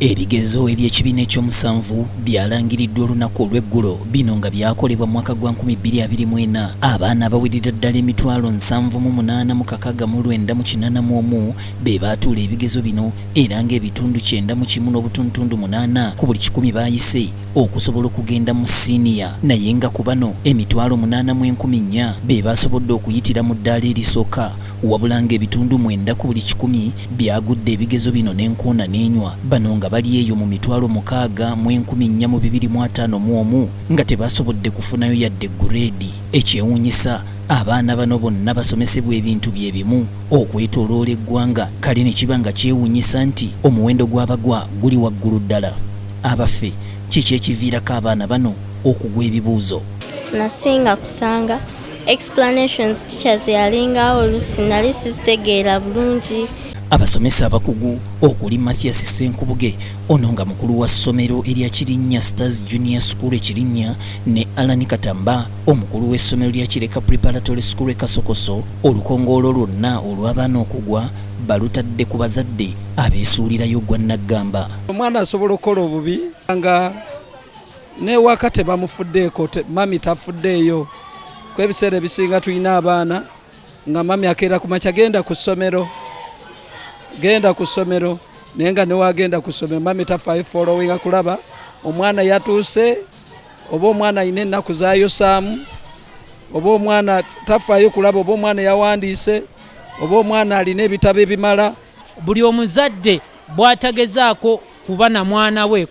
Ebigezo eby'ekibiina eky'omusanvu byalangiriddwa olunaku olw'eggulo, bino nga byakolebwa mu mwaka gwa 2024. Abaana abawerera ddala emitwalo nsanvu mu munaana mu kakaaga mu lwenda mu kinana mu omu be baatuula ebigezo bino era nga ebitundu kyenda mu kimu n'obutuntundu munaana ku buli kikumi baayise okusobola okugenda mu siniya naye nga ku bano emitwalo munaana mu enkumi nnya be baasobodde okuyitira mu ddaala erisooka wabula ng'ebitundu mwenda ku buli kikumi byagudde ebigezo bino n'enkoona n'enywa, bano nga bali eyo mu mitwalo mukaaga mu enkumi nnya mu bibiri mu ataano mu omu nga tebaasobodde kufunayo yadde ggureedi. Ekyewuunyisa, abaana bano bonna basomesebwa ebintu bye bimu okwetooloola eggwanga kale ne kiba nga kyewuunyisa nti omuwendo gw'abagwa guli waggulu ddala. Abaffe, kiki ekiviirako abaana bano okugwa ebibuuzo? Nasinga kusanga explanations teachers yalinga olusi nali sizitegeera bulungi abasomesa abakugu okuli mathias senkubuge ono nga mukulu wa ssomero erya kirinnya stars junior school ekirinnya ne alan katamba omukulu w'essomero lya kireka preparatory school ekasokoso olukongoolo lwonna olw'abaana okugwa balutadde ku bazadde abeesuulirayo gwa naggamba omwana asobola okukola obubi nga newaka tebamufuddeeko mami tafuddeeyo ku ebiseera ebisinga tulina abaana nga mami akeera ku makya genda ku ssomero genda ku ssomero naye nga newagenda ku ssomero mami tafaayo followinga kulaba omwana yatuuse oba omwana alina ennaku zayosaamu oba omwana tafaayo kulaba oba omwana yawandiise oba omwana alina ebitabo ebimala buli omuzadde bwatagezaako kuba na mwana we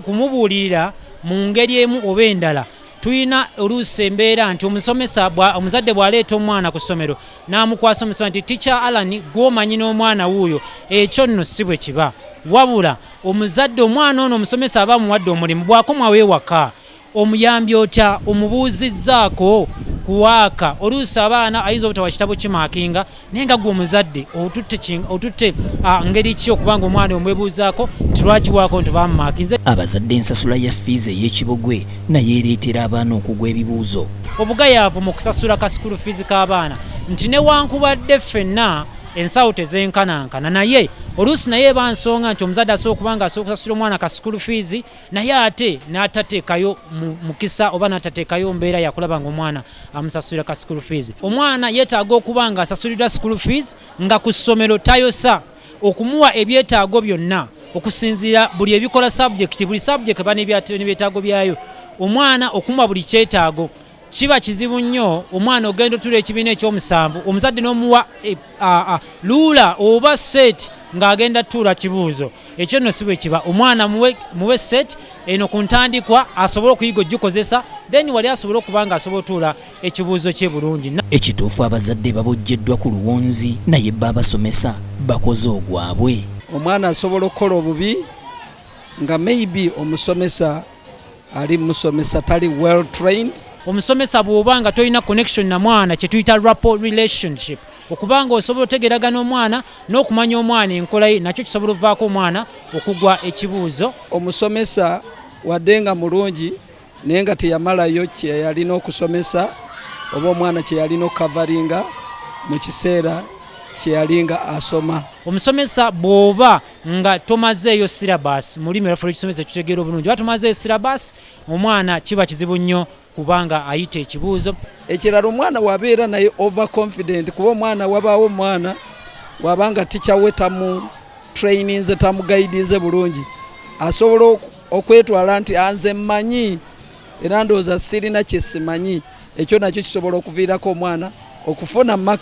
kumubuulirira mu ngeri emu oba endala tulina oluusi embeera nti omusomesa omuzadde bw'aleeta omwana ku ssomero n'amukwasa omusoma nti ticca alani gw'omanyi n'omwana wuuyo ekyo nno si bwe kiba wabula omuzadde omwana ono omusomesa aba amuwadde omulimu bwakomwawo ewaka omuyambye otya omubuuzizzaako ku waaka oluusi abaana ayinza obutawa kitabo kimaakinga naye nga gwe omuzadde otutte ngeri ki okubanga omwana omwebuuzaako nti lwaki waako nti bamumaakinze abazadde ensasula ya fiizi ey'ekibogwe naye ereetera abaana okugwa ebibuuzo obugayaavu mu kusasula ka sikulu fiizi k'abaana nti newankubadde ffenna ensawo tezenkanankana naye oluusi naye eba nsonga nti omuzadde asobola okuba nga asobola okusasula omwana ka sikulu fiizi naye ate n'atateekayo mukisa oba n'atateekayo mbeera yakulaba nga omwana amusasulira ka school fees omwana yeetaaga okuba nga asasulirwa school fees nga ku ssomero tayosa okumuwa ebyetaago byonna okusinziira buli ebikola subject buli subject eba nebyetaago byayo omwana okumuwa buli kyetaago kiba kizibu nnyo omwana ogenda otula ekibiina ekyomusanvu omuzadde n'omuwa e, luula oba seeti ng'agenda tuula kibuuzo ekyo nno si bwe kiba omwana muwe seeti eno ku ntandikwa asobole okuyiga ogikozesa then wali asobole okuba nga asobola otuula ekibuuzo kye bulungi ekituufu abazadde babojjeddwa ku luwonzi naye bba abasomesa bakoze ogwabwe omwana asobola okukola obubi nga maybe omusomesa ali musomesa tali well trained omusomesa bwoba nga tolina connection na mwana kyetuyita rapo relationship okuba nga osobola otegeragana omwana n'okumanya omwana enkola ye nakyo kisobola ovaako omwana okugwa ekibuuzo omusomesa wadde nga mulungi naye nga teyamalayo kyeyalina okusomesa oba omwana kyeyalina okukavaringa mu kiseera kyeyalinga asoma omusomesa bwoba nga tomazeeyo syllabus mu lulimi lwaffe lwekisomesa tutegeera obulungi oba tomazeeyo syllabus omwana kiba kizibu nnyo kubanga ayita ekibuuzo ekirala omwana wabeera naye over confident kuba omwana wabaawo omwana wabanga ticha we tamu traininze tamu guidinze bulungi asobola okwetwala nti anze mmanyi era ndowooza sirina kyesimanyi ekyo nakyo kisobola okuviirako omwana okufuna max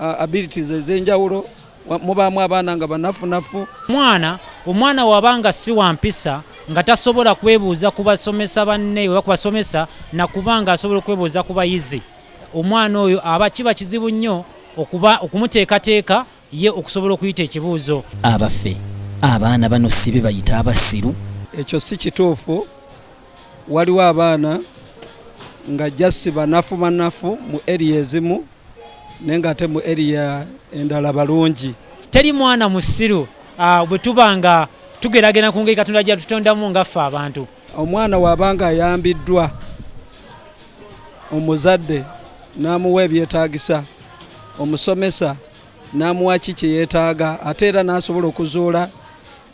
uh, abilities ezenjawulo mubaamu abaana nga banafunafu mwana omwana waba nga si wampisa nga tasobola kwebuuza ku basomesa banne oba ku basomesa nakuba nga asobola okwebuuza ku bayizi omwana oyo aba kiba kizibu nnyo okuba okumuteekateeka ye okusobola okuyita ekibuuzo abaffe abaana bano sibe bayita abasiru ekyo si kituufu waliwo abaana nga just banafu banafu mu area ezimu naye nga ate mu area endala balungi. Teri mwana musiru ah, bwe tuba nga tugeragena ku ngeri Katonda gyatutondamu nga ffe abantu. Omwana wabanga ayambiddwa omuzadde n'amuwa ebyetaagisa omusomesa n'amuwa ki kye yeetaaga ate era n'asobola okuzuula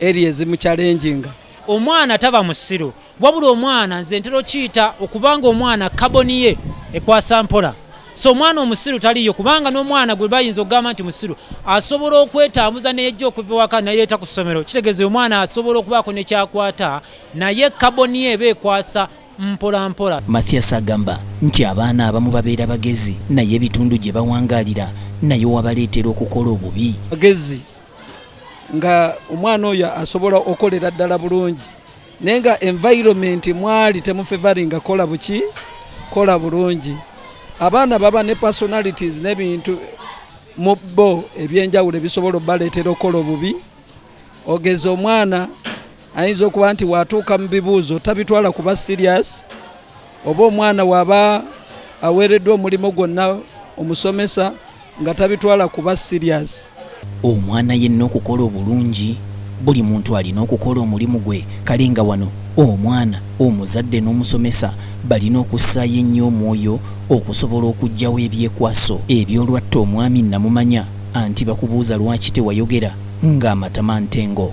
eri ezimukyalenjinga omwana taba musiru wabula omwana nze ntera okiyita okubanga omwana kaboni ye ekwasa mpola so omwana omusiru taliyo kubanga n'omwana gwe bayinza okugamba nti musiru asobola okwetambuza neyejja okuva ewaka nayeeta ku ssomero kitegeeza omwana asobola okubaako nekyakwata naye kaboni ye eba ekwasa mpola mpola. Mathias agamba nti abaana abamu babeera bagezi naye ebitundu gye bawangaalira nayo wabaleetera okukola obubi. Magezi nga omwana oyo asobola okolera ddala bulungi naye nga environment mwali temufevaringa kola buki kola bulungi. Abaana baba ne personalities n'ebintu mu bo ebyenjawulo ebisobola obaleetera okukola obubi ogeza omwana ayinza okuba nti watuuka mu bibuuzo tabitwala kuba sirias oba omwana waba aweereddwa omulimu gwonna omusomesa nga tabitwala kuba sirias omwana yenna okukola obulungi buli muntu alina okukola omulimu gwe kale nga wano omwana omuzadde n'omusomesa balina okussaayo ennyo omwoyo okusobola okuggyawo ebyekwaso ebyolwatta omwami namumanya anti bakubuuza lwaki tewayogera ng'amatama ntengo